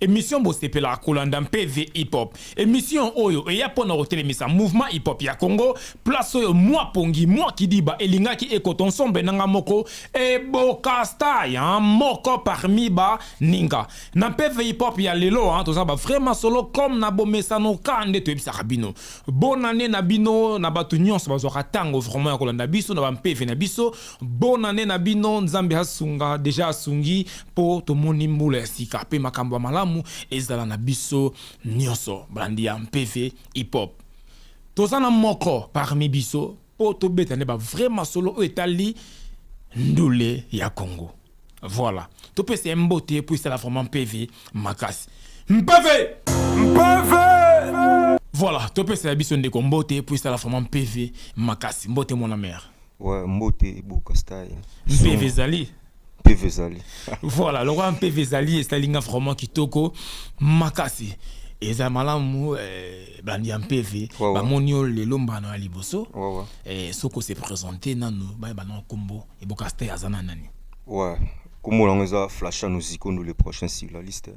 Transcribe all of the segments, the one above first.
Emission bosepelaka kolanda mpe The Hip Hop. Emission oyo eya mpo na kotelemisa mouvement hip hop ya Congo, place oyo mwa pongi, mwa kidiba elingaki ekota ensemble na nga moko Eboka Star ya moko parmi ba ninga. Na mpe The Hip Hop ya lelo hein, toza ba vrais masolo comme na bomesano ka nde toyebisaka bino. Bonne annee na bino na batu nionso bazwaka tango vraiment ya kolanda biso na ba mpeve na biso. Bonne annee na bino, Nzambe asunga dejà asungi. Mpo tomoni mbula ya sika mpe makambo ya malamu ezala na biso nyonso. Balandi ya Mpeve Hip Hop toza na moko parmi biso mpo tobeta nde ba vrai masolo oyo etali ndule ya Congo. Voilà, topesa ye mbote mpo esala vraiment Mpeve makasi. Mpeve! Mpeve! Voilà, topesa ya biso ndeko mbote mpo esala vraiment Mpeve makasi. Mbote mwana mère. Ouais, mbote Boka Style. Mpeve ezali. mpeve ezali voilà lokola mpeve ezali esali nga vraiment kitoko makasi eza malamu eh, bandi ya mpeve wow, bamoni yo lelo mbano ya liboso wow, wow. Eh, soko se présente nanu bayeba na nkombo eboka ste aza na nani ouais. nkombo yango eza flashano zikondo le prochain sur la liste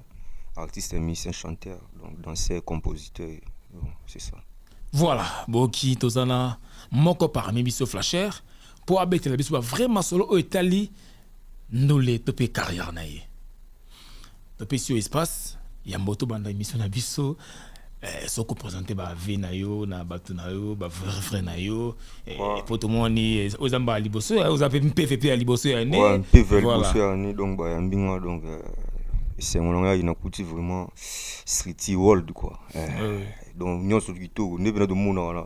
artiste musicien chanteur donc danseur compositeur c'est ça voilà boki toza na moko parmi biso flasher mpo abetela biso ba vrai masolo oyo etali ndule to mpe carrière na ye topesi yo espace ya mboto banda emission na biso eh, soki opresente bave na yo na bato na yo bavrevre na yo eh, mpo tomoni eh, oza mbala liboso ya oza mpe mpeve mpe ya liboso ya ne Ouais, mpe vers Voilà. liboso ya ne donc bayambi nga donc euh, esengo na ngai nakuti vraiment streety world quoi Eh, Ouais. donc nyonso kitoko nde mpena tomonaka na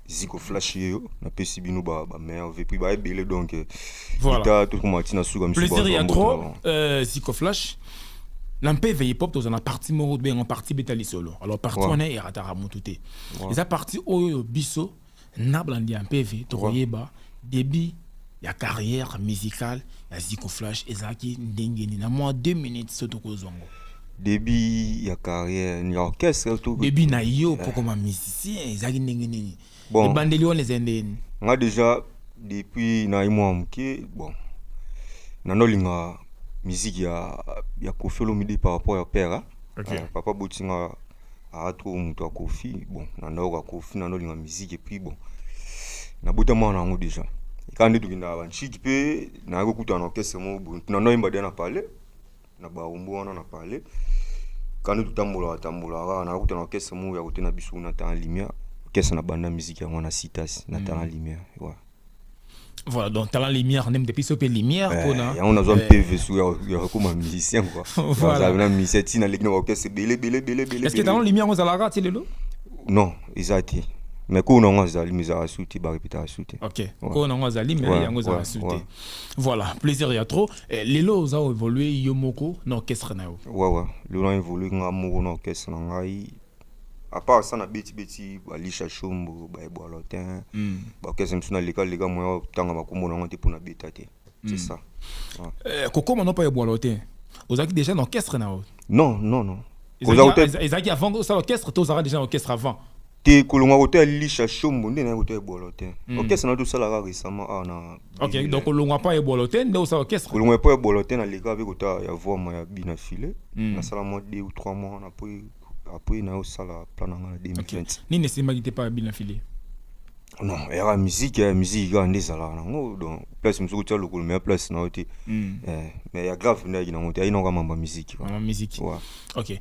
ziko flash ye yo napesi bino ba ba meilleur vie puis ba ebele donc euh, Voilà. leta to koma tina suka misu plaisir ya trop euh, ziko flash na mpe veille pop tozala na parti moko tobenga parti beta lisolo alors parti Ouais. wana erataka motu te eza parti oyo biso na balandi ya mpeve tokoyeba Debut ya carrière musicale ya Ziko Flash ezalaki ndenge nini? Na mwa 2 minutes soki tokozwa ngo. Debut ya carrière ni orchestre tout. Debut na yo mpo koma musicien ezalaki ndenge nini? Bon. Ebandeli wana ezali ndenge nini? Nga deja depuis na ye mwa moke bon nanolinga miziki ya ya Koffi Olomide par rapport ya père hein. Okay. Eh, papa boti nga aza trop moto ya kofi bon na ndako ya kofi na ndolinga miziki epuis bon nabotama wana yango déjà ekaa nde tokendaka banshiki mpe nayaki kokutana na orkestre moko boye na ndo ayemba deja na palais na barumbu wana na palais ekaa nde totambolaka tambolaka kaka nayaki kokutana na orkestre moko ya kote na biso na tana limia orkestre na banda miziki yango na citas na tana limia wa voilà donc talent lumière nde depuis sope lumière eh, mpona yango nazwa mpe vesu ya kokoma musicien quoi voilà na musicien ti naleki na baorchestre ebele ebele ebele ebele est-ce que talent lumière ozalaka ti lelo non eza te mais ko nango azali mais ezalaka su te barepeta ya su te ok ko nango azali mais yango ezalaka su te voilà plaisir ya trop eh, lelo oza évoluer yo moko na orchestre na yo wawa lelo na évoluer nga moko na orchestre na ngai apart ça na beti beti ba lisha shombo ba ebolotin mm. ba kesa msuna leka leka moya tanga makombo na ngote pona beta te c'est mm. ça ouais. euh, kokoma no pa ebolotin ozaki déjà na orchestre na non non non ezaki avant ça orchestre to ozaka déjà na orchestre avant te kolonga koto ya lisha shombo nde naye koto ya ebolo te mm. orchestre na tosalaka récemment awa ah, na ok donc kolongwa mpo ya ebolo te nde osala orchestre kolongwa mpo ya ebolo te naleka mpe kota ya voma ya bina file mm. nasala mwa deux ou trois mois na mpo apres nayo osala plan na nga na 2020 nini esimbaki te mpaka bina filie non yaka miziki ya miziki kaka nde ezalaka nango donc place mosuku tya lokolo meya place na yo te hmm. eh, mais ya grave nde ayaki nango te ayi nango mambo ya miziki mambo miziki ok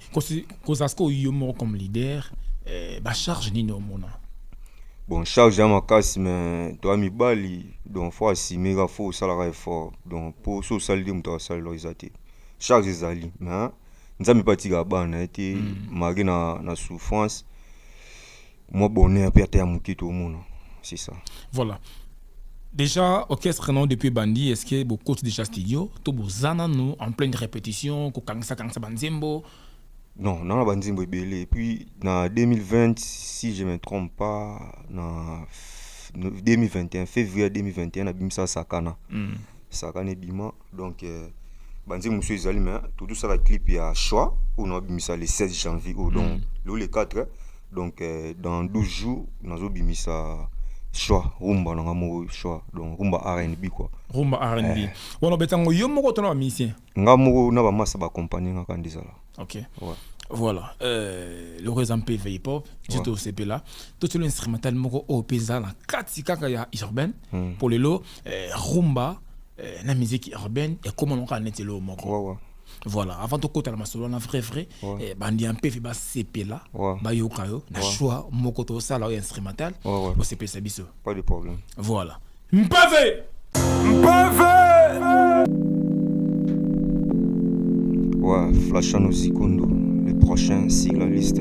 kozala sikoyo yo moko comme leader eh, bacharge nini omona bon charge ya makasi mais toya mibali donc fo asime kaka fo osalaka effort donc mpo so osali te moto asalelaka eza te charge ezali mais nzambe mpe atikaka bana na ye te malgré na, na souffrance mwa bonheur mpe ata ya moke toomona c'est ça Voilà. Déjà, orchestre non depuis Bandi, est-ce que vous coach déjà studio Tout vous nous en pleine répétition, ko kangsa kangsa banzembo. non nanga na banzembo ebele et puis na 2020 si je me trompe pas na f- no- 2021 février 2021 nabimisa sakana sakana ebima donc euh, banzembo mosusu ezali me totosala clip ya choix oyo naobimisa le 16 janvier oyo donc lelo le 4 donc euh, dans 12 jours nazobimisa choix rumba na nga moko choix donc rumba rnb quoi rumba rnb Eh. wana obeta yango yo moko to na bamisien nga moko na bamasa bakompani nga kanda ezala ok ouais. voilà euh, loko eza mpe veille pop je tosepela tosolo instrumental moko oyo mpe eza na kati kaka ya urbaine mpo lelo eh, rumba eh, na musique urbaine ekoma moko neti eloo moko ouais, ouais. voilà avant tokota na masolo wana vrai vrai ouais. eh, bandi ya mpefi basepela ouais. bayoka yo na ouais. choix moko tosala oyo instrumental ouais, ouais. osepelisa biso pas de problème voilà mpeve mpeve ouais, flashano zikondo le prochain sigle liste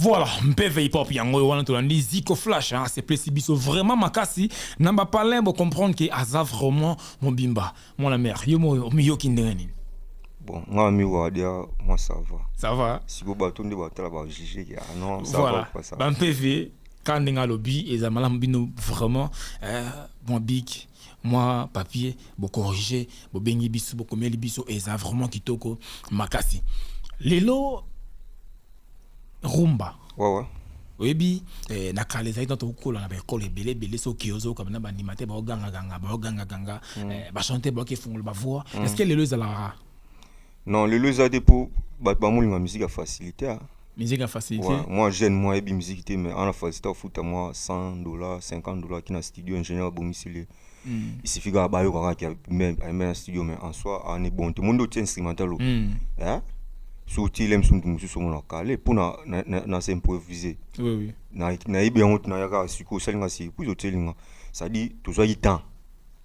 Voilà, mpeve hip hop yango oyo wana tolandi Zico Flash hein, c'est plesi biso vraiment makasi na ba palin bo comprendre que aza vraiment mobimba. Mon la mère, yo moyo miyoki ndenge nini? Bon, nga mi wa dia moi ça va. Ça va. Si bo bato nde ba tala ba juger ya ah non, ça voilà. va pas ça. Ba mpeve quand ndenge alobi eza malamu bino vraiment euh, mon big mwa papier bo corriger bobengi biso bokomeli biso eza vraiment kitoko makasi lelo rumba wawa oyebi eh, na kala ezalaki ntango tokokola na baekole ebele ebele soki ozoyoka na bandima te baogangaganga baogangaganga mm. eh, bachante baoki efungolo bavoix mm. est ce que lelo ezalaka Non, lelo eza te po bato ba molinga musique ya facilité. Hein. Musique ya facilité. Ouais, moi jeune moi ebi musique te mais ana facilité ofuta moi 100 dollars, 50 dollars kina studio ingénieur bomisili. Mm. Il suffit ka bayo kaka ki même même studio mais en soi en est bon. Tout le monde au instrumental. Mm. Hein? soki ile msundu mosusu omona kale mpo na, na, na, na s'improvise oui, oui. nayebi na yango nayaka sikoyo osalinga si epuis otelinga cestadire tozwaki temps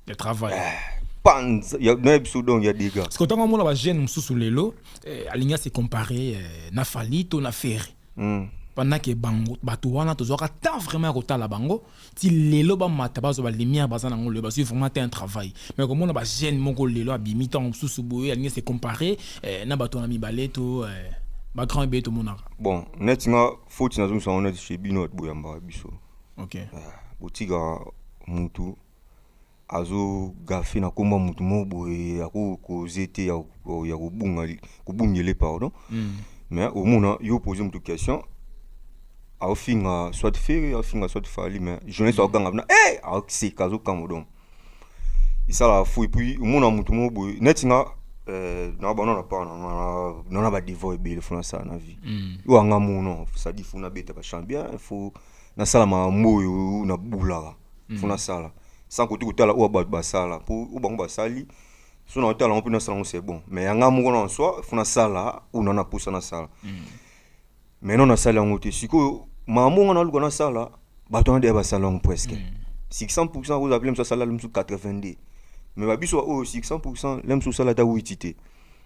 ya travail eh, panz ya na biso donc ya dega parce que ntango amona bajeune mosusu lelo eh, alingi ase compare eh, na fali to na ferre mm. pendant ke bango bato wana tozwaka temps vraiment ya kotala bango ti lelo bamata bazwa balimière baza nango lelo bazwi vraiment te un travail mais komona bajeune moko lelo abimi ntango mosusu boye alingi ase compare eh, na bato wana mibale to eh, bagrand ebele tomonaka bon neti nga foti nazongisa yango neti chez bino bato boyambaka biso okay. eh, botika mutu azo gafe na kombo ya motu moko boye ako koze te ya ko- ya kobunga kobungele pardon Mm. mais omona yo pose motu question aofinga soit fere aofinga soit fali mais jeunesse akoganga bina e aoseka azokamwa donc esalaka fou epuis omona motu moko boye neti nga eh, na bana na paa nana badevant ebele fo nasala na vie Mm. oyo anga mono sadi fo nabeta bachamp bien fo nasala makambo oyo nabulaka fo mm. nasala sans kote kotala oyo bato basala mpo oyo bango basali so nakotala yango mpe nasala yango c'est bon mais yanga moko na soi fo nasala oyo na napusa nasala mm. mais no nasali yango te sikoyo makambo nga naluka nasala bato wana deya basala yango presque 600 mm. pourcent okozala mpe lemosu asala lemosu 82 mais babiso baoyo 600 pourcent lemosu osala ata witi te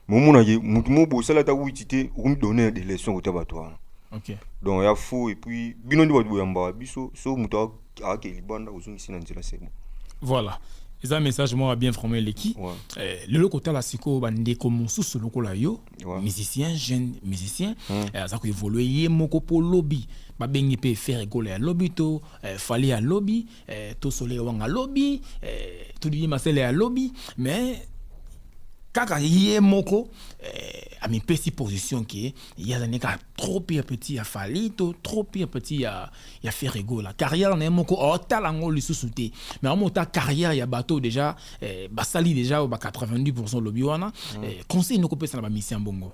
momonaki motu moko bosala ata witi te okomi donner de leçon kota bato wana okay. donc ya faux et puis bino nde bato boyambaka biso so moto akake libanda ozongisi na nzela sebo voilà eza message moko bien vraiment eleki ouais. eh, lelo kotala sikoyo bandeko mosusu lokola yo ouais. musicien jeune musicien mm. eh, aza koevolue ye moko mpo lobi babengi mpe fere gola ya lobi to eh, fali ya lobi eh, to soleil wanga lobi eh, to didi masele ya lobi mais kaka ye moko eh, amipesi position ke ye azali kaka trop pire petit ya fali to trop pire petit ya, ya ferrego la carrière na ye moko otala yango lisusu te mais yango ota carrière ya bato déjà eh, basali déjà ba 90 lobi wana mm. eh, conseil nokopesa na bamisi ya bongo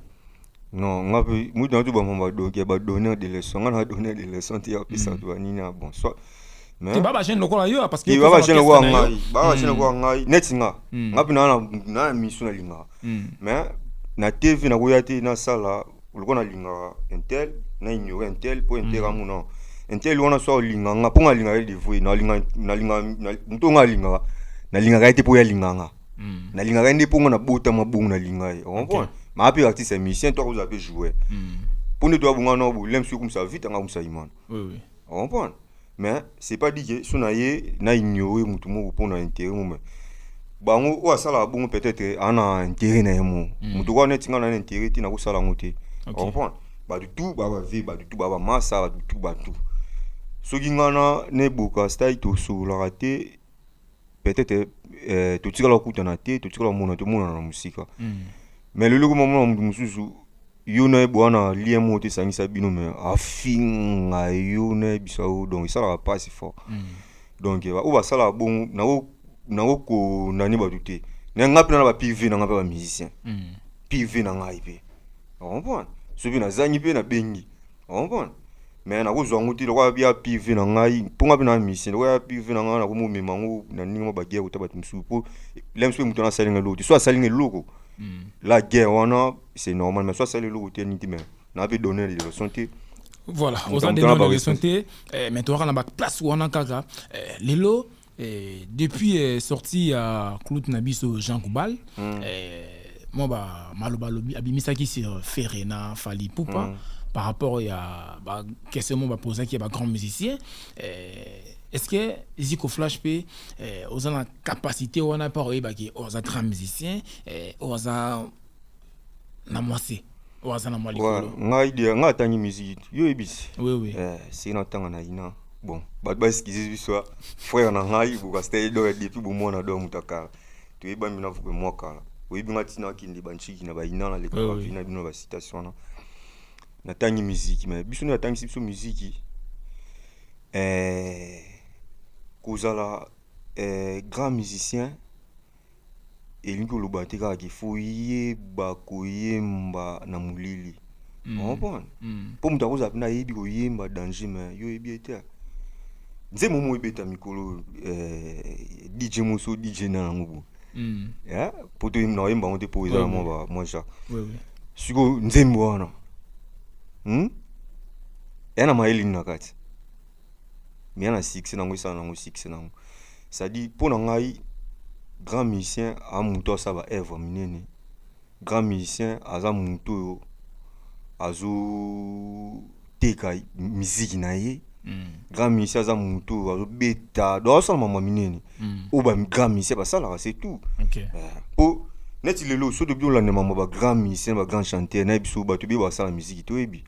Non, nga pe mutu na tuba mamba donc ya ba donneur de leçon, nga na donneur de leçon ti ya pisa tuba nini ya bon soit. Mais ba ba jeune lokola yo parce que ba ba jeune lokola ngai, ba ba jeune lokola ngai, net nga. Nga pe na na na misu na linga. Mais na TV na koya te na sala lokola na linga intel, na ignorer intel po intel ka mu non. Intel wana soit olinga nga po nga linga ye devoue, na linga na linga mutu nga linga. Na linga ka ye te po ya linga nga. mm. nalingaka ye nde mpo nga nabotama bongo nalinga ye okomprendre okay. maa mpe artiste ya musicien to akozala mpe joueur mm. mpo nde toyabonga na bolem soki okumisa vite anga okumisa imana oui, oui. okomprendre mais c'est pas dit que so na ye na ignore motu moko mpo na intérêt mome bango oyo asalaka bongo peut-être ana intérêt na ye moko mm. motu okoa neti nga na na intérêt te nakosala yango te okay. okomprendre bato tu baa bave bato tu baa bamasa bato tu bato soki nga na neboka style tosololaka te peut-être eh, totikala kokutana te totikala komona te omonana na mosika mm. mais lelo ekoma mona moto mosusu yo na ye boya na lien moko te esangisa bino me afinga yo na yebisa yo donc esalaka mpasi fort mm. donc eh, oyo basalaka bongo nango konani bato te na ngai mpe na ba piv na ngai mpe bamusicien mm. piv na ngai mpe comprendre soki nazangi mpe nabengi Omona? me nakozwa yango te lokola ya pive na ngai mpo ngai mpe na misien lokola ya pive na ngai nakomomema yango na ndenge mwa baguerre kota bato mosusu mpo lems mpe moto nasali ngai eloko te so asali ngai eloko hmm. la guerre wana c'est normal mais so asali eloko te nini te mais na mpe donner de leçon te voilà oza nde na leçon te eh, mais toyaka na baplace wana kaka eh, lelo Eh, depuis eh, sortie ya clout na biso Jean Koubal mm. eh, mwa ba maloba lobi abimisaki sur Ferre na Fally Ipupa mm. par rapport ya ba question mo bapozaki ya ba grand musicien eh, est-ce que Zico Flash pe eh, oza na capacité wana par oyebaki oza grand musicien eh, oza na mwasi oyo aza na mwa likolo ngai dia ngai atangi musique yo yebisi oui oui eh si na tanga na ina bon bato ba excuse biso ah. frère na ngai bokasta ye donc depuis bomwana donc mutakala toyebami na vupe mwa kala oyebi ngai ntina akende banchiki na baina na leka bavi na bino na basitation wana natangi miziki me biso nde atangisi biso miziki eh, kozala eh, grand musicien elingi koloba te kaka ke fo yeba koyemba na molili mm. okomprendre mm. mpo moto akozala mpena ayebi koyemba danger me yo oyebi ete nzembo moko ebeta mikolo eh, dj moso dj na yango bo mm. eh, mpo toyemba na oyemba yango te mpo eza na mwa mwa ja sikoyo nzembo wana hmm? ya na mayelini na kati mais na succès nango esala nango succès nango c'est-à-dire mpo na ngai grand musicien a moto asala ba œuvre minene grand musicien aza moto oyo azoteka miziki na ye mm. grand musicien aza moto oyo azobeta donc azosala mama minene mm. oyo ba grand musicien basalaka c'est tout okay. uh, po neti lelo soki tobi tolandema ma ba grand musicien ba grand chanteur nayebi so bato ebeye basala miziki toyebi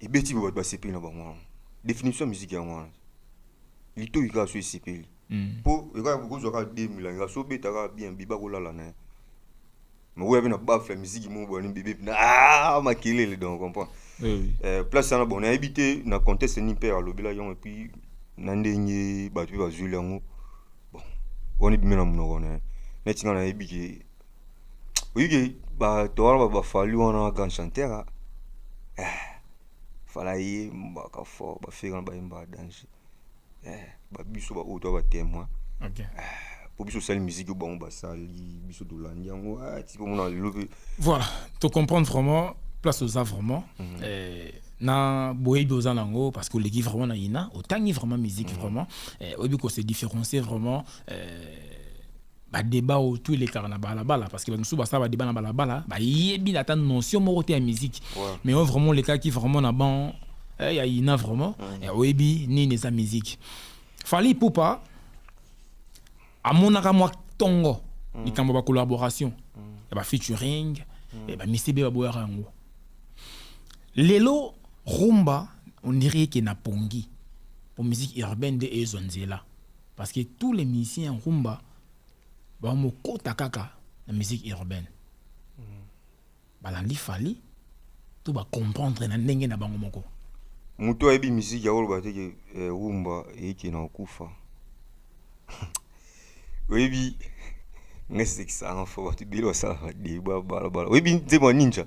ebeti bato basepeli na bango wana definition ya miziki yango wana litoyi kaka so esepeli mpo mm. ekaka kokozwa kaka de milangi so obeta kaka bien biba kolala na ye makoya mpe na bafe ya miziki moko boyani bebe mpena ah, makelele donc comprend eh, place wana bon nayebi te na conteste nini mpe alobelaki yango epuis na ndenge bato mpe bazweli yango bon wana ebimi na monoko na ye neti ngai nayebi ke oyike bato wana bafali wana grand chanteur ah. eh, fala yembaka fort bafere wana bayembaka danger eh, babiso baoyo toa batemoin okay. eh, po biso osali miziki bango basali biso tolandi yango ah, ti komona lelo mpe voilà tocomprendre vraiment place oza vraiment mm -hmm. eh, na boyebi oza na yango parce que oleki vraiment na yina otangi vraiment miziki mm -hmm. vraiment eh, oyebi kose différencier vraiment eh, ba debat oyo tout elekaka na balabala parce que bato mosusu basala ba debat na balabala bayebi na ata notion moko te ya musique Ouais. mais oyo vraiment olekaki vraiment na ban eh, ya ina vraiment eh, oyebi nini eza musique fali ipupa amonaka mwa ntongo likambo ya bacollaboration ya bafeaturing eh, bamisibe baboyaka yango lelo rumba on dirait ke na pongi po musique urbaine nde ezwa nzela Parce que tous les musiciens ya rumba bamokota kaka na musique urbaine mm. balandi fali to bacomprendre na ndenge na bango moko moto ayebi miziki ya koloba te ke eh, rumba eyeke na kokufa oyebi ngai sekisanga fo bato ebele basalaka de babalabala oyebi nzembo ya ninja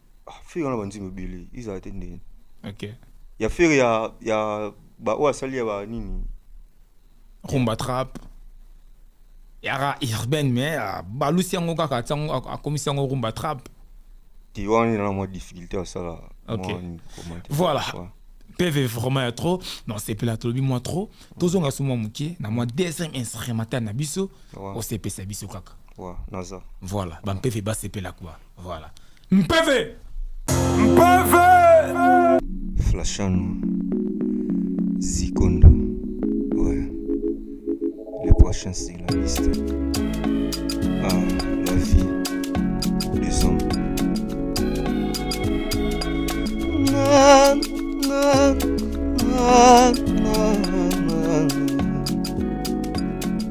Ah, fere wana banzembo ebele ezala te ndenge okay. ya fere ya, ya baoyo asali ya banini rumba trap yaka urbaine mais ah, balusi yango kaka atia yango ak- akomisi yango rumba trap te wana ena na mwa difficulté asala Ok. mwa nini, comment te- Voilà. Ouais. peve vraiment ya trop na osepela tolobi mwa trop tozonga so mwa moke na mwa deuxième instrumental na biso Ouais. osepesa biso kaka Ouais, naza voilà bampeve basepela kua Voilà. Mpeve. Mpeve. Flashano. Zikondo. Ouais. Le prochain c'est la liste. Ah, la vie des hommes. Na, na, na, na.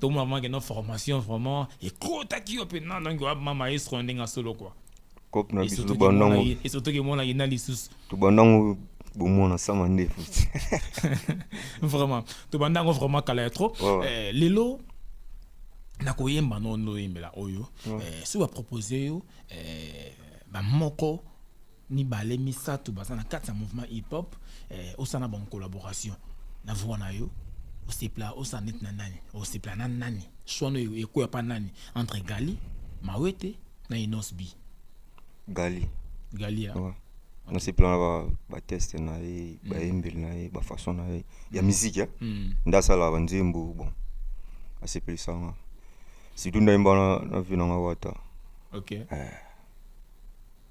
to mona vraiment que no formation vraiment ekotaki yo pe na ndenge wa maestro na ndenge solo quoi kop na biso tobanda ngo et surtout que mona yena lisusu tobanda ngo bomona sama ndefu vraiment tobanda ngo vraiment kala ya trop eh, lelo nakoyemba no ndoyembela oyo eh, soki bapropose yo eh, bamoko mibale misato baza na kati ya mouvement hip hop eh, osala na bango collaboration na voix na yo osepela osala neti na nani osepela na nani swano ekoya pa nani entre gali mawete na inos b gali gali ya ouais. nasepela na bateste na ye mm. bayembeli na ye bafaçon na ye ya miziki eh? mm. nde asalaka banzembo bon asepelisanga surtout ndayemba na vi nanga wata okay. eh.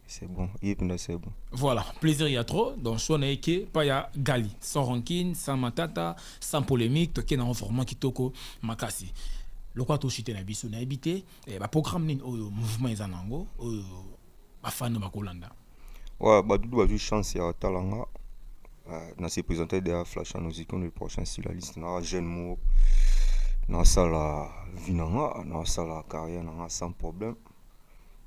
C'est bon, Yipna, c'est bon. Voilà, plaisir il y a trop. Donc, soit n'est que pas ya Gali, sans rancune, sans matata, sans polémique, toké na vraiment kitoko makasi. Lokwa to chité na biso na habité, eh, ba programme nini oyo mouvement eza nango, oyo ba fan ba kolanda. Ouais, ba dudu ba chance ya talanga. Euh, na se présenter derrière Flash en Ozikon le prochain sur la liste na jeune mot. Na sala vinanga, na sala carrière na sans problème.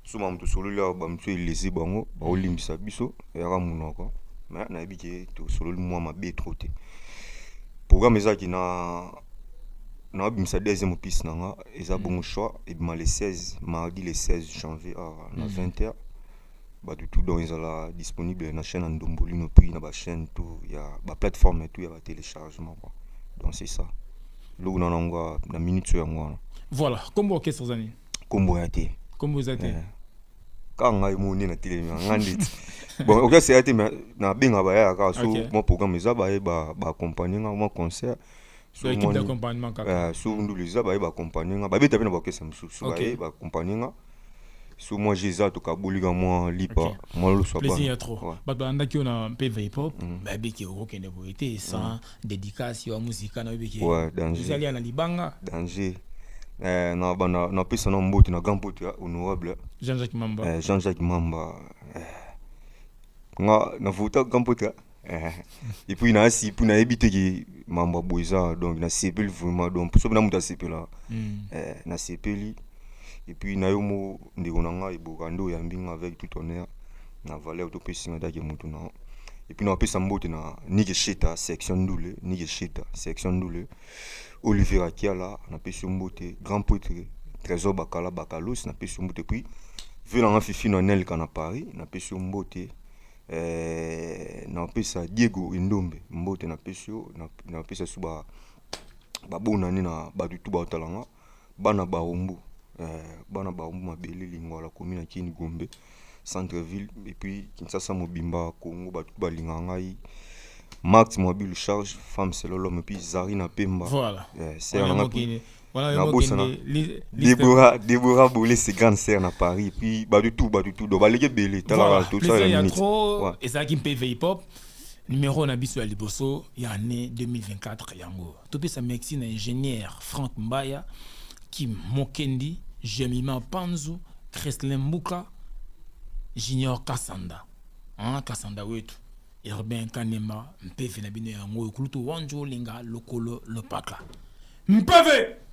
suma moto sololi awa bamosusu elezi bango baolimbisa biso eyaka monoko me nayebi ke tosololi mwa mabe tro te programme ezalaki na naobimisa deuxième opise na nga eza mm. bongo choix ebima le 16 mardi le 16 janvier awa na 20 mm. heures bato tout donc ezala disponible na chaîne ya ndombolino puis na bachaîne tout ya baplateforme tout ya batéléchargement quoi donc c'est ça eloko na nango na minute so yango wana voilà kombo orchestre eza nini kombo ya te kombo eza te eh. kaka ngai moni na telemi na ngai ndeti bon okoki asela te mais nabenga bayaya kaka so mwa programme eza baye baakompagne nga mwa concert eh, so ndulu eza baye baakompagne nga babeta mpe na bakesa mosusu so baye baakompagne nga so mwa je eza tokabolika mwa lipa mwa loswa bato balandaki yo na mpe vipop mm. babiki okokende boye te sans mm. dedicace wa musika na yebiki ezali na libanga danger eh, na bana na pesa na mbote na grand pote ya honorable jean jacques mamba eh, jean jacques mamba eh. nga na vota grand pote eh. et puis na si puis na yebi te ki mamba boza donc na sepeli vraiment donc soki na muta sepela mm. eh, na sepeli et puis na yo mo ndeko na ngai boka nde oyambi nga avec tout honneur na valeur to pesi nga dake mutu na et puis na pesa mbote na Nike Sheta section ndule Nike Sheta section ndule Olivier Akiala na pesi mbote grand poète Trésor Bakala Bakalos na pesi mbote puis vu na nga fifi na Nelka na Paris na pesi mbote eh, na pesa Diego Indombe mbote na pesi na pesa suba babonani na bato tu baotalanga Bana Barumbu, eh, bana Barumbu mabele lingwala komi na Kini Gombe centre ville et puis Kinshasa mobimba Congo bato balinga ngai Marthe Mwabilu charge femme c'est l'homme et puis Zarina Pemba voilà eh, sœur na ngai nabosana Deborah Deborah Bolé c'est grande sœur na Paris et puis bato tout bato tout donc baleki ebele talaka tout ça ya minute ezalaki mpe veipop numéro na biso ya liboso ya année 2024 yango topesa merci na ingénieur frank mbaya kim mokendi jemima panzu kreslin mbuka junior kasanda hein, kasanda wetu urbain kanema mpeve na bino yango oyo kulutu wanjo olinga lokolo lopaka mpeve